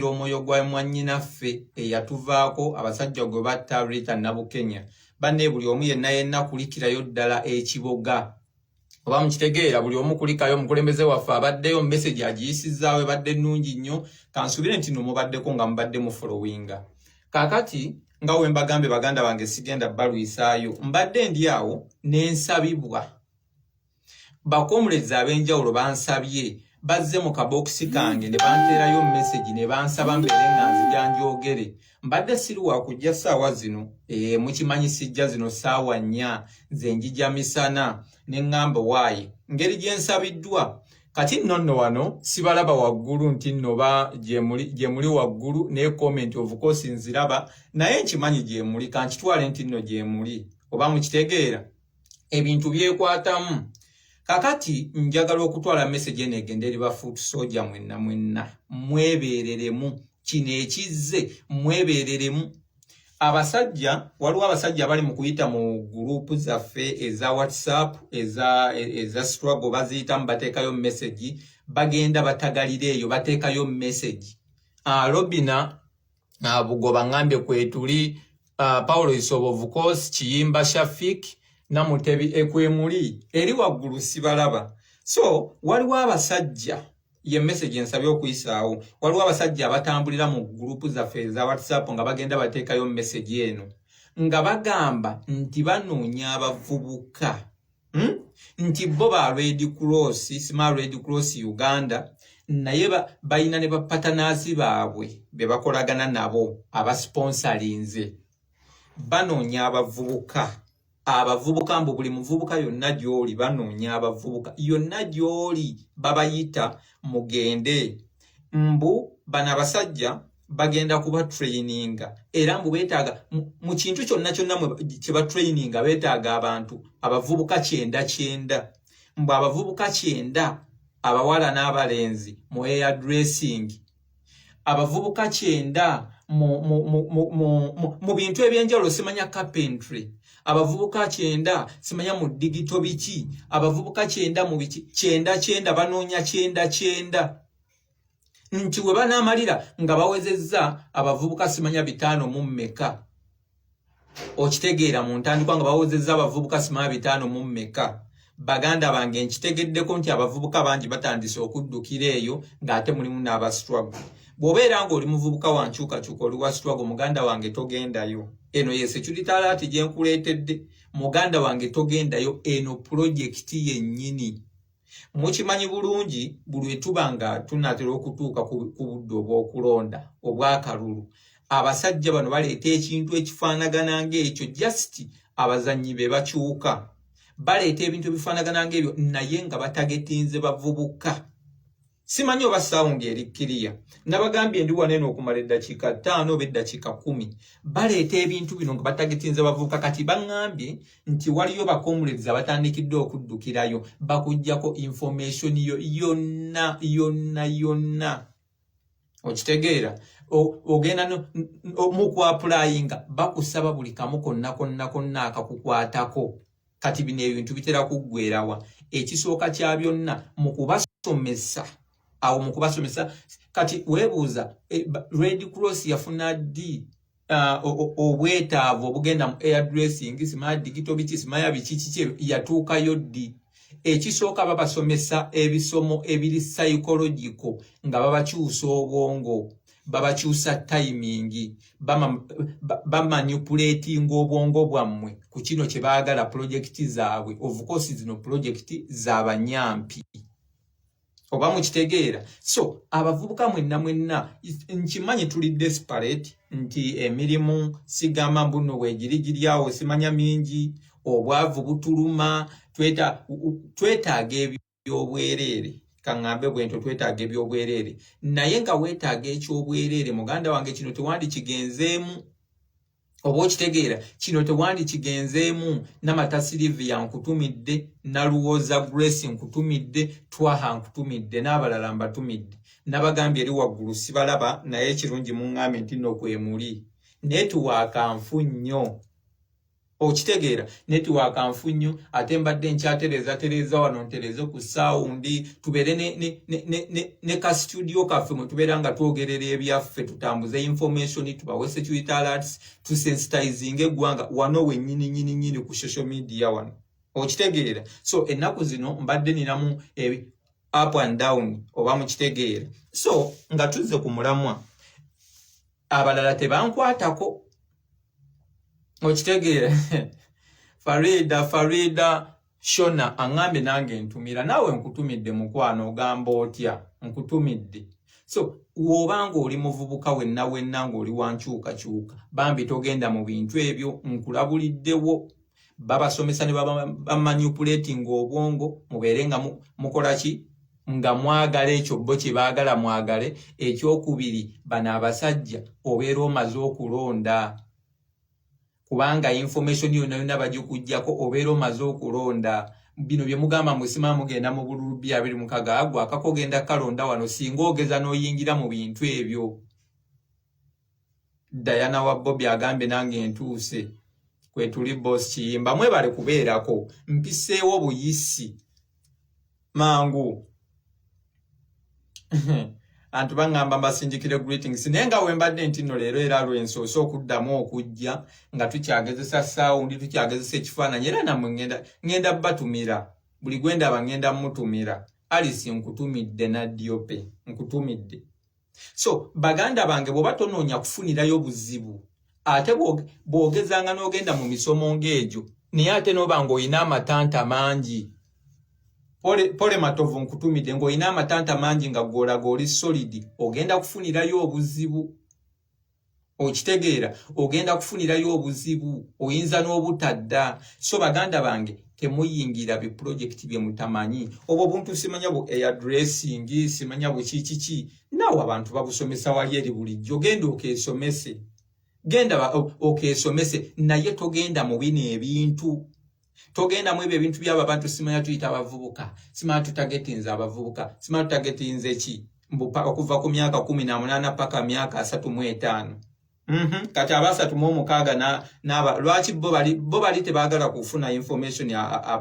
okuwulira omwoyo gwa mwannyinaffe eyatuvaako abasajja gwe batta Rita Nabukenya banne buli omu yenna yenna kulikirayo ddala ekiboga oba mukitegeera buli omu kulikayo omukulembeze waffe abaddeyo mumesegi agiyisizaawo ebadde nnungi nnyo kansuubire nti no mubaddeko nga mubadde mufolowinga kaakati nga we mbagambye baganda bange sigenda balwisaayo mbadde ndi awo nensabibwa bakomulezi ab'enjawulo bansabye bazze mu kabokisi kange ne banteerayo mesegi ne bansaba mbeere nga nzija njogere mbadde siri wakujja ssaawa zino ee mukimanyi sijja zino ssaawa nnya nze njija misana ne ŋŋamba waayi ngeri gye nsabiddwa kati nno nno wano sibalaba waggulu nti nno ba gye muli waggulu ne komenti ovukosi nziraba naye nkimanyi gye muli kankitwale nti nno gye muli oba mukitegeera ebintu byekwatamu kakati njagala okutwala message eno egende eri ba foot soldier mwenna mwenna mwebereremu kino ekizze mwebereremu abasajja waliwo abasajja abali mu kuyita mu gurupu zaffe eza whatsapp eza, eza struggle baziyitamu bateekayo message bagenda batagalira eyo bateekayo message alobina ah, uh, bugoba ngambye kwetuli uh, ah, paulo isobovu kos kiyimba shafik namutebi ekwemuli eri waggulu sibalaba so waliwo abasajja ye message ensabye okuyisaawo waliwo abasajja abatambulira mu gurupu zaffe eza whatsapp nga bagenda bateekayo message eno nga bagamba nti banoonya abavubuka hmm? nti bo ba red cross sima red cross uganda naye balina ne bapatanazi baabwe be bakolagana nabo abasponsalinze banoonya abavubuka abavubuka mbu buli muvubuka yonna gy'oli banoonya abavubuka yonna gy'oli babayita mugende mbu bano abasajja bagenda kuba traininga era mbu betaaga mu kintu kyonna kyonna kye ba traininga betaaga abantu abavubuka kyenda kyenda mbu abavubuka kyenda abawala n'abalenzi mu air dressing abavubuka kyenda mu bintu eby'enjawulo simanya carpentry abavubuka kyenda simanya mu digito biki abavubuka kyenda mu biki kyenda kyenda banoonya kyenda kyenda nti we banaamalira nga bawezezza abavubuka simanya bitaano mu mmeka okitegeera mu ntandikwa nga bawezezza abavubuka simanya bitaano mu mmeka baganda bange nkitegeddeko nti abavubuka bangi batandise okuddukira eyo ng'ate mulimu n'abasitwago bw'obeera ng'oli muvubuka wa nkyukakyuka oli wa sitwago muganda wange togendayo eno ye securitalaati gye nkuleetedde muganda wange togendayo eno pulojekiti yennyini mukimanyi bulungi bulwe tuba nga tunatera okutuuka ku budde obw'okulonda obw'akalulu abasajja bano baleeta ekintu ekifaanagana ng'ekyo just abazannyi be bakyuka baleeta ebintu ebifaanagana ng'ebyo naye nga batagetinze bavubuka simanyi oba sound eri kiriya nabagambye ndi waneno okumala eddakiika ttaano oba eddakiika kumi baleeta ebintu bino nga batagitinza bavuuka kati baŋambye nti waliyo bakomulezi abatandikidde okuddukirayo bakugjako information yo yonna yonna yonna okitegeera ogenda mukwapulaayinga bakusaba buli kamu konna konna konna akakukwatako kati bino ebintu bitera kuggwerawa ekisooka kya byonna mu kubasomesa awo mu kubasomesa kati weebuuza eh, red cross yafuna ddi Uh, obwetaavu obugenda mu airdressing simaa digito biki simaya biki kiki yatuukayo ddi ekisooka babasomesa ebisomo ebiri psychological nga babakyusa obwongo babakyusa tayimingi bamanipuletinga obwongo bwammwe ku kino kye baagala pulojekiti zaabwe ovukosi zino pulojekiti za banyampi oba mukitegeera so abavubuka mwenna mwenna nkimanyi tuli desperate nti emirimu sigamba mbuno wegiri giryawo simanya mingi obwavu butuluma twetaaga ebyo ebyobwereere kaŋŋambe bwentyo twetaaga ebyobwereere naye nga weetaaga ekyobwereere muganda wange kino tewandikigenzeemu oba okitegeera kino tewandikigenzeemu namata siriviya nkutumidde naluwoza grace nkutumidde twaha nkutumidde n'abalala mbatumidde nabagambye eri waggulu sibalaba naye ekirungi muŋŋambe nti nokwemuli naye tuwaakanfu nnyo okitegeera netiwaaka nfu nnyo ate mbadde nkyatereeza tereeza wano ntereeze ku saawundi tubeere ne ka situdiyo kaffe mwe tubeera nga twogerera ebyaffe tutambuze information tubawe security alerts tusensitizinga eggwanga wano wennyini nyini nyini ku social media wano okitegeera so ennaku zino mbadde ninamu up and down oba mukitegeera so nga tuzze ku mulamwa abalala tebankwatako okitegeera farida farida shona aŋambye nange ntumira naawe nkutumidde mukwano ogamba otya nkutumidde so woba ngaoli muvubuka wenna wenna ngaoli wankyukakyuka bambi togenda mu bintu ebyo nkulabuliddewo babasomesa ne bamanipulating obwongo mubeere nga mukola ki nga mwagala ekyo bo kye baagala mwagale ekyokubiri bano abasajja obeera omaze okulonda kubanga information yona yona bagikugjako obeera omaze okulonda bino bye mugamba musima mugenda mu bululu bya biri mukaga agwa akakogenda kalonda wano singa ogeza n'oyingira mu bintu ebyo Diana wa Bobby agambye nange ntuuse kwetuli boss kiyimba mwebale kubeerako mpiseewo buyisi mangu antu bangamba mbasindikire greetings naye nga wembadde nti no leero era lwensoose okuddamu okujja nga tukyagezesa sawundi tukyagezesa ekifaananyi era namwe ngenda ngenda batumira buli gwendaba ngenda mutumira alisi nkutumidde nadiope nkutumidde so baganda bange bwoba tonoonya kufunirayo buzibu ate bwogezanga n'ogenda mu misomo ng'egyo naye ate noba ng'olina amatanta mangi pole matovu nkutumidde ng'olina amatanta mangi nga gwolaga oli solidi ogenda kufunirayo obuzibu okitegeera ogenda kufunirayo obuzibu oyinza n'obutadda so baganda bange temuyingira bipulojekiti bye mutamanyi obwo buntu simanya bu airdressing simanya bukikiki naawe abantu babusomesa wali eri bulijjo genda okeesomese genda okeesomese naye togenda mu bino ebintu togenda mu ebyo ebintu byabo abantu simanya tuyita abavubuka simanya tutagetinze abavubuka simanya tutagetinze ki okuva ku myaka kumi na munaana paka myaka asatu mu etaano mhm. kati abasatu mu omukaaga naaba lwaki bo bali tebagala kufuna information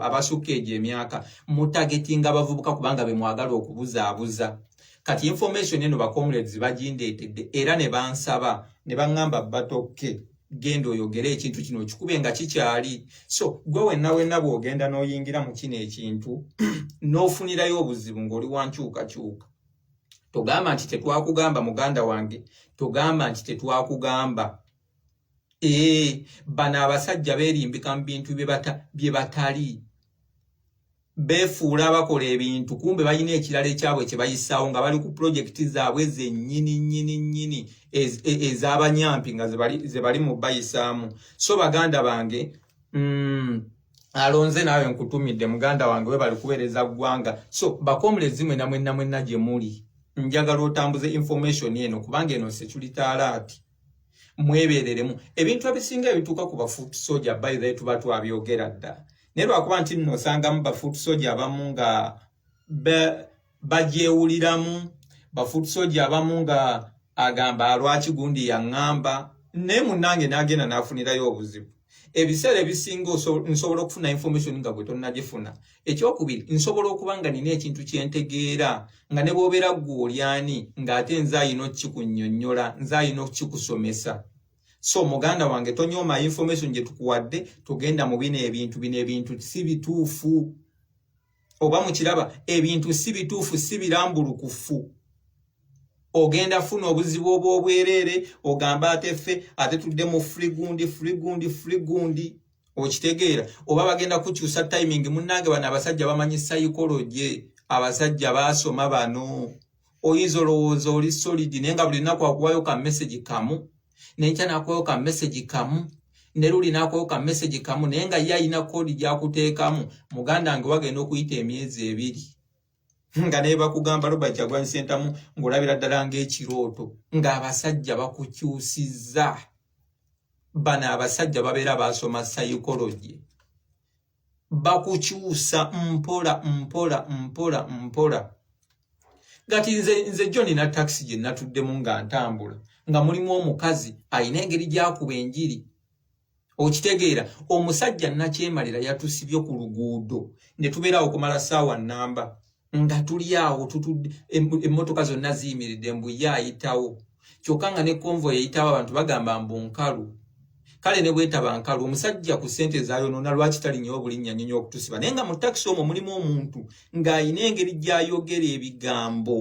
abasukka egyo emyaka mutagetinga abavubuka kubanga bemwagala okubuzaabuza kati information eno bacomrades bagindeetedde era ne bansaba ne baŋŋamba batokke genda oyogere ekintu kino okikube nga kikyali so gwe wenna wenna bw'ogenda n'oyingira mu kino ekintu n'ofunirayo obuzibu ng'oli wa nkyukakyuka togamba nti tetwakugamba muganda wange togamba nti tetwakugamba ee bano abasajja berimbika mu bintu bye batali befuula abakola ebintu kumbe balina ekirala ekyabwe kye bayisaawo nga bali ku pulojekiti zaabwe zennyini nnyini nnyini e, ez'abanyampi nga ze bali mu bayisaamu so baganda bange mm, alonze naawe nkutumidde muganda wange we bali kuweereza ggwanga so bakomulezi mwena mwenna mwenna gye muli njagala otambuze information eno kubanga eno security alaati mwebereremu ebintu ebisinga ebituuka ku bafoot soja bayithe tuba twabyogera dda naye lwakuba nti nno osangamu bafoot soja abamu nga bagyewuliramu bafoot soja abamu nga agamba lwaki gundi yaŋŋamba naye munnange n'agenda n'afunirayo obuzibu ebiseera ebisinga nsobola okufuna information nga gwe tonnagifuna ekyokubiri nsobola okuba nga nina ekintu kyentegeera nga ne bwobeera ggwe olyani ng'ate nze ayina okukikunyonyola nze ayina okukikusomesa so muganda wange tonyooma information gye tukuwadde tugenda mu bino ebintu bino ebintu si bituufu oba mukiraba ebintu si bituufu si birambulukufu ogenda funa obuzibu obw'obwereere ogambe ate ffe ate tudde mu frigundi frigundi frigundi okitegeera oba bagenda kukyusa timing munnange bano abasajja bamanyi sayikoloje abasajja baasoma bano oyinza olowooza oli solid naye nga buli lunaku akuwayo ka message kamu nenkya nakuwayo ka message kamu ne luli nakuwayo ka message kamu naye nga ye ayina kodi gyakuteekamu muganda nge wagenda okuyita emyezi ebiri nga naye bakugamba robert jagwani sentamu ngaolabira ddala ngaekirooto ngaabasajja bakukyusizza bano abasajja babeera basoma psychology bakukyusa mpola mpola mpola mpola gati nze nze jjo nina takisi gye natuddemu nga ntambula nga mulimu omukazi alina engeri gyakuba enjiri okitegeera omusajja nakyemalira yatusibye ku luguudo ne tubeerawo okumala saawa namba nga tuli awo tutudde emmotoka zonna ziyimiridde mbu ye ayitawo kyokka nga ne konvo yeyitawo abantu bagamba mbu nkalu kale ne bwetaba nkalu omusajja ku ssente ezayonoona lwaki talinyawo bulinnya nyonyo okutusiba naye nga mu takisi omwo mulimu omuntu ng'alina engeri gy'ayogera ebigambo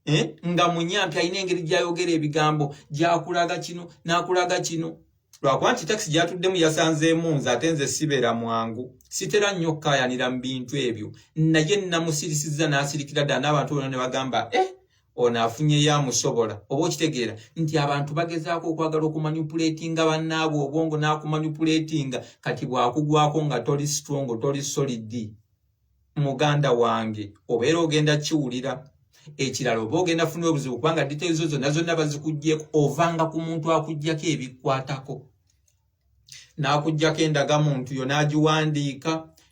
eh? nga munyampi alina engeri gyayogera ebigambo gyakulaga kino nakulaga kino lwakuba nti takisi gyatuddemu yasanzeemu nze ate nze sibeera mwangu sitera nnyo okukayanira mu bintu ebyo naye namusirisiza n'asirikira ddala n'abantu bona ne bagamba e eh, ono afunyeyo amusobola oba okitegeera nti abantu bagezaako okwagala okumanyipuletinga bannaabwe obwongo n'akumanyipuletinga kati bwakugwako nga toli strongo toli solidi muganda wange obeera ogenda kiwulira ekirala oba ogenda funa obuzibu kubanga details zo zonna zonna bazikugyeko ovanga ku muntu akugyako ebikwatako n'akugyako endaga muntu yo n'agiwandiika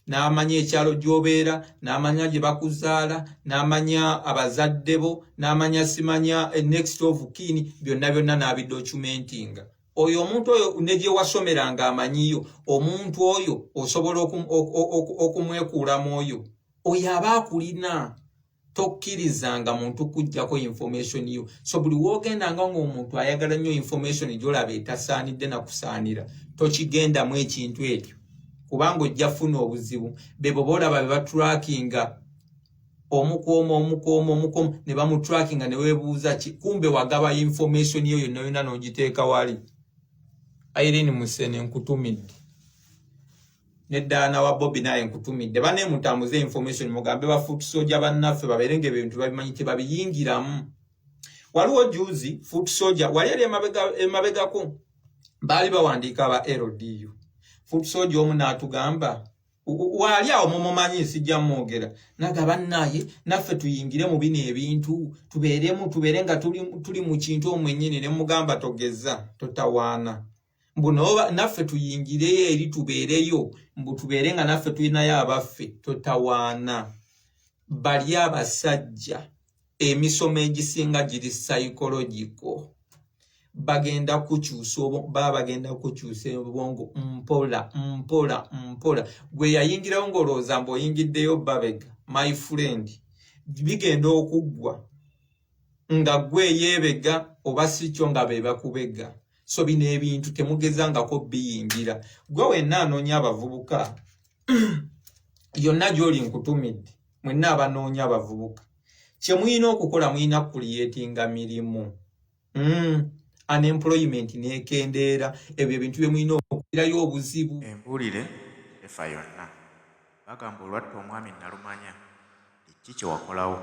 n'amanya ekyalo gy'obeera n'amanya gye bakuzaala n'amanya abazadde bo n'amanya simanya eh, next of kin byonna byonna n'abidocumentinga oyo omuntu oyo negyewasomeranga amanyiyo omuntu oyo osobola okumwekuulamu oyo oyo aba akulina tokkirizanga muntu kujjako information yo so buli wogendanga ngaomuntu ayagala nnyo information gyolaba etasaanidde nakusaanira tokigendamu ekintu ekyo kubanga ojja funa obuzibu bebo boolaba bebatrakinga omukuuma omukuuma omukuuma ne bamutrackinga ne weebuuza ki kumbe wagaba information yo yonna yonna n'ogiteeka wali irene musene nkutumidde ne daana wa bobi naye nkutumidde bane mutambuze information mugambe ba foot soja bannaffe babeere nga ebintu babimanyi tebabiyingiramu waliwo juzi foot soja wali ali emabegako baali bawandiika aba ldu foot soja omu n'atugamba waali awo mumumanyi nsijja mwogera naga bannaye naffe tuyingire mu bino ebintu tubeeremu tubeere nga tuli mu kintu omwenyini ne mugamba togeza totawaana mbu naffe tuyingireyo eri tubeereyo mbu tubeere nga naffe tulinayo abaffe totawaana bali abasajja emisomo egisinga giri psychological bagenda kukyusa oba bagenda kukyusa obwongo mpola mpola mpola gwe yayingirawo ng'olowooza mbu oyingiddeyo babega my friend bigenda okuggwa nga gwe yeebega oba si kyo nga be bakubega so bino ebintu temugezangako biyingira gwe wenna anoonya abavubuka yonna gy'oli nkutumidde mwenna abanoonya abavubuka kye mulina okukola mulina kukuliyetinga mirimu mm. unemployment nekendeera ebyo ebintu bye mulina okukirayo obuzibu embuulire efa yonna bagamba olwatta omwami nalumanya ekki kyewakolawo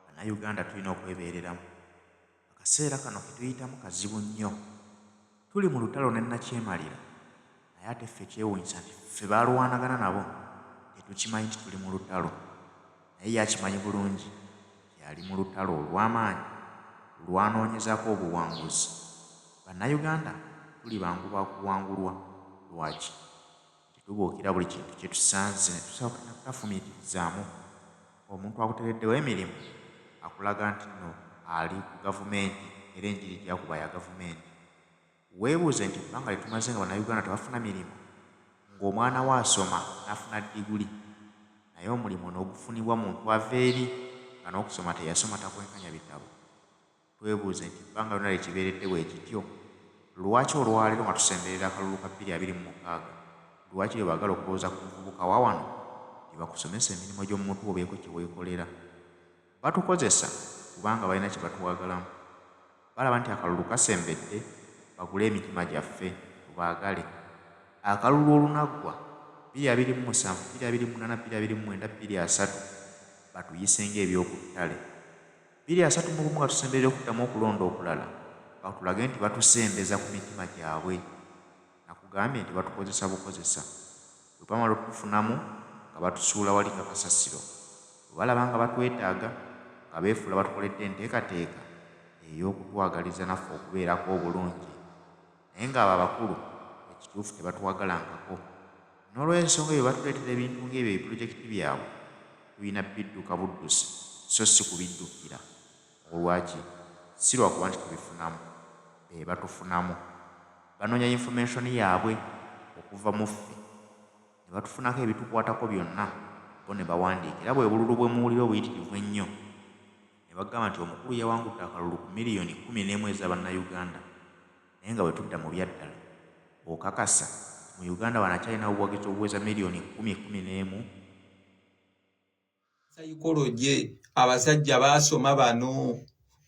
banauganda tulina okwebeereramu Akaseera kano ke tuyitamu kazibu nnyo. Tuli mu lutalo ne nnakyemalira naye ate ffe kyewuunyisa nti ffe b'alwanagana nabo tetukimanyi nti tuli mu lutalo naye ye akimanyi bulungi nti ali mu lutalo olw'amaanyi lw'anoonyezaako obuwanguzi. Bannayuganda tuli bangu ba kuwangulwa. Lwaki? Tetubuukira buli kintu kye tusanze ne tusooka ne tutafumiitirizaamu. Omuntu akutereddewo emirimu akulaga nti nno ali ku Gavumenti era enjiri ejja kuba ya Gavumenti. Weebuuze nti ebbanga lye tumaze nga Bannayuganda tebafuna mirimu, ng'omwana wo asoma n'afuna ddiguli naye omulimu n'ogufunibwa muntu ava eri nga n'okusoma teyasoma takwenkanya bitabo. Twebuuze nti ebbanga lyona lye kibeeredde bwe kityo? Lwaki olwaleero nga tusemberera akalulu ka bbiri abiri mu mukaaga, lwaki bye baagala okulowooza ku muvubuka wa wano bye bakusomesa emirimu egy'omu mutwe obeeko kye weekolera? Batukozesa kubanga balina kye batwagalamu. Balaba nti akalulu kasembedde bagule emitima gyaffe, tubaagale. Akalulu olunaggwa, bbiri abiri mu musanvu, bbiri abiri mu munaana, bbiri abiri mu mwenda, bbiri asatu, batuyise ng'ebyoku ttale. Biri asatu mu bumu nga tusemberera okuddamu okulonda okulala, batulage nti batusembeza ku mitima gyabwe. Nakugambye nti batukozesa bukozesa. Bwe bamala okutufunamu nga batusuula wali nga kasasiro. Bwe balaba nga batwetaaga, nga beefuula batukoledde enteekateeka ey'okutwagaliza naffe okubeerako obulungi. naye nga abo abakulu ekituufu tebatuwagalangako nolwensonga eyo bwebattuleetera ebintu nga ebyo ebipulojekiti byabwe tulina bidduka buddusi so si kubiddukira mu lwaki si lwakuba nti tubifunamu be batufunamu banonya information yabwe okuva mu ffe nebatufunako ebitukwatako byonna bo nebawandiika era bwebululu bwemuwulira obuyitirivu ennyo ne bagamba nti omukulu yawangudde akalulu ku million kkumi n'emu eza bannayuganda naye nga bwetudda mu byaddala okakasa nti mu Uganda wano akyalinawo obuwagizi obuweza million kkumi, kkumi n'emu. Psychology abasajja basoma bano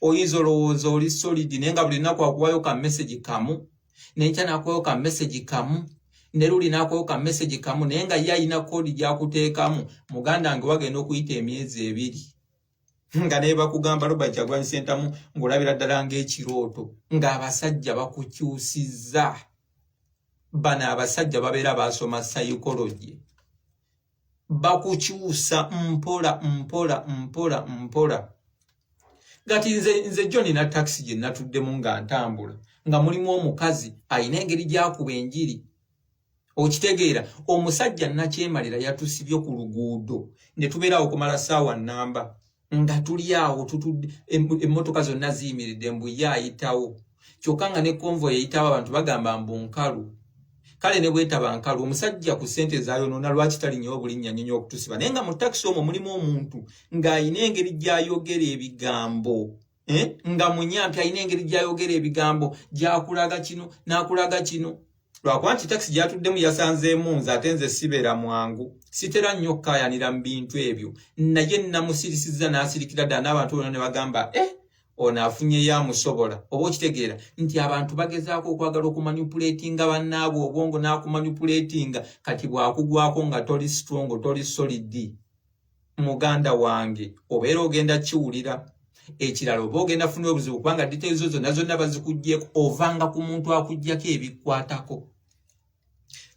oyinza olowooza oli solid naye nga buli lunaku akuwayo ka message kamu nenkya nakuwayo ka message kamu ne luli nakuwayo ka message kamu naye nga ye alina kodi gyakuteekamu muganda nge wagenda okuyita emyezi ebiri nga naye bakugamba Robert Kyagulanyi Ssentamu ng'olabira ddala ng'ekirooto ng'abasajja bakukyusizza bano abasajja babeera baasoma psychology bakukyusa mpola mpola mpola mpola gati nze nze jjo nina takisi gye natuddemu nga ntambula nga mulimu omukazi alina engeri gyakuba enjiri okitegeera omusajja nakyemalira yatusibye ku luguudo ne tubeera awo kumala ssaawa nnamba nga tuli awo tutudde emmotoka zonna ziyimiridde mbu ye ayitawo kyokka nga ne konvo yeyitawo abantu bagamba mbu nkalu kale ne bwetaba nkalu omusajja ku ssente zayonoona lwaki talinyawo bulinnya nyonyo okutusiba naye nga mu takisi omwo mulimu omuntu ng'alina engeri gy'ayogera ebigambo eh? nga munyampi alina engeri gyayogera ebigambo gyakulaga kino nakulaga kino lwakuba nti takisi gyatuddemu yasanzeemu nze ate nze sibeera mwangu sitera nnyo okukayanira mu bintu ebyo naye namusirisiza nasirikira ddala n'abantu bona ne bagamba e eh, ono afunyeyo amusobola oba okitegeera nti abantu bagezaako okwagala okumanipuletinga bannaabwe obwongo n'akumanipuletinga kati bwakugwako nga toli strongo toli solidi muganda wange obeera ogenda kiwulira ekirala oba ogenda funa obuzibu kubanga diteezo zonna zonna bazikugyeko ovanga ku muntu akugyako ebikwatako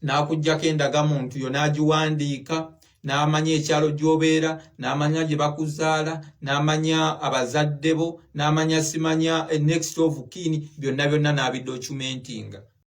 n'akugyako endaga muntu yo n'agiwandiika n'amanya ekyalo gy'obeera n'amanya gye bakuzaala n'amanya abazadde bo n'amanya simanya eh, next of kin byonna byonna n'abidocumentinga